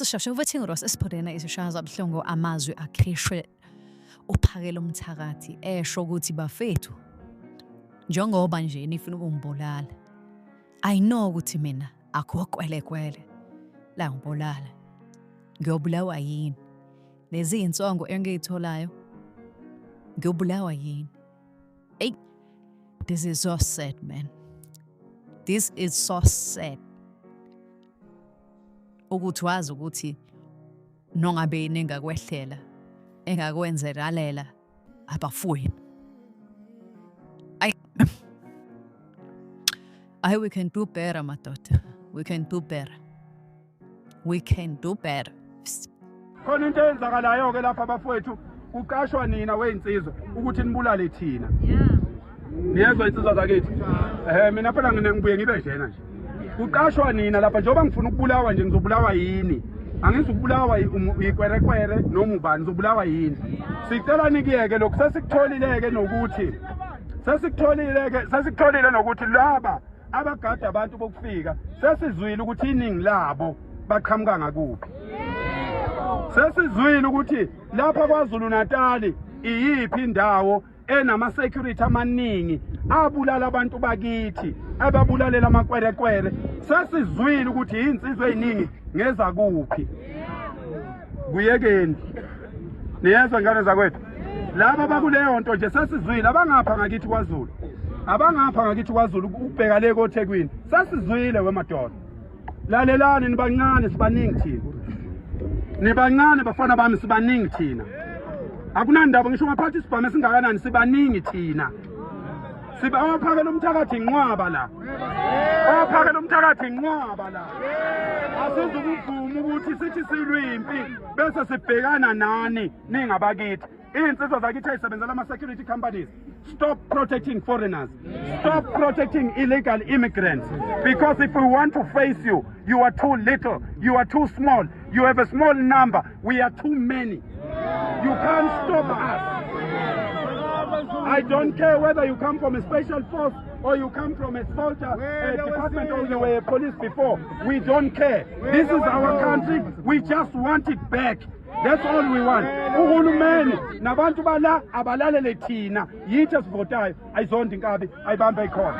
sisheshe ukuthi ngirosa esiphudena isishaya zabuhlungu amazwi akhishwe uphakela umthakathi esho ukuthi bafethu njengoba nje nifuna ukungibulala i know ukuthi mina Akho kwelekwele. La ngibulala. Ngiyobulawa yini? Lezi insongo engiyitholayo. Ngiyobulawa yini? Hey, this is so sad, man. This is so sad. Ukuthi wazi ukuthi nongabe yini engakwehlela engakwenzekalela Aber vorhin. I, I we can do better, my daughter. We can do better. We can do better. Khona into eyenzakalayo ke lapha bafowethu kuqashwa nina weyinsizwa ukuthi nibulale thina. Yeah. niyezwa insizwa zakithi um mina phela ngine ngibuye ngibe njena nje kuqashwa nina lapha njengoba ngifuna ukubulawa nje ngizobulawa yini angizukubulawa yikwerekwere noma ubani ngizobulawa yini sicela nikuyeke lokhu sesikutholileke nokuthi sesikutholileke sesikutholile nokuthi laba abagada abantu bokufika sesizwile ukuthi iningi labo baqhamuka ngakuphi sesizwile ukuthi lapha kwaZulu Natali iyiphi indawo enama-security amaningi abulala abantu bakithi ababulalela amakwerekwere sesizwile ukuthi yiy'nsizwa ey'ningi ngezakuphi kuyekeni niyezwa ngane zakwethu laba bakuleyo nto nje sesizwile abangapha ngakithi kwazulu abangapha ngakithi kwazulu ukubheka le kothekwini sesizwile wemadoda lalelani nibancane sibaningi thina nibancane bafana bami sibaningi thina akunandaba ngisho ngaphathi isibhamu esingakanani sibaningi thina siba owaphakela umthakathi inqwaba la owaphakela umthakathi inqwaba la asizukuvuma ukuthi sithi silwimpi bese sibhekana nani ningabakithi Izinsizwa zakithi ezisebenzela ama-security companies stop protecting foreigners stop protecting illegal immigrants because if we want to face you you are too little you are too small you have a small number we are too many you can't stop us I don't care whether you come from a special force or you come from a soldier a department or you were a police before we don't care this is our country we just want it back that's all we want uhulumeni nabantu bala abalalele thina yithi esivotayo ayizonda inkabi ayibambe ikhona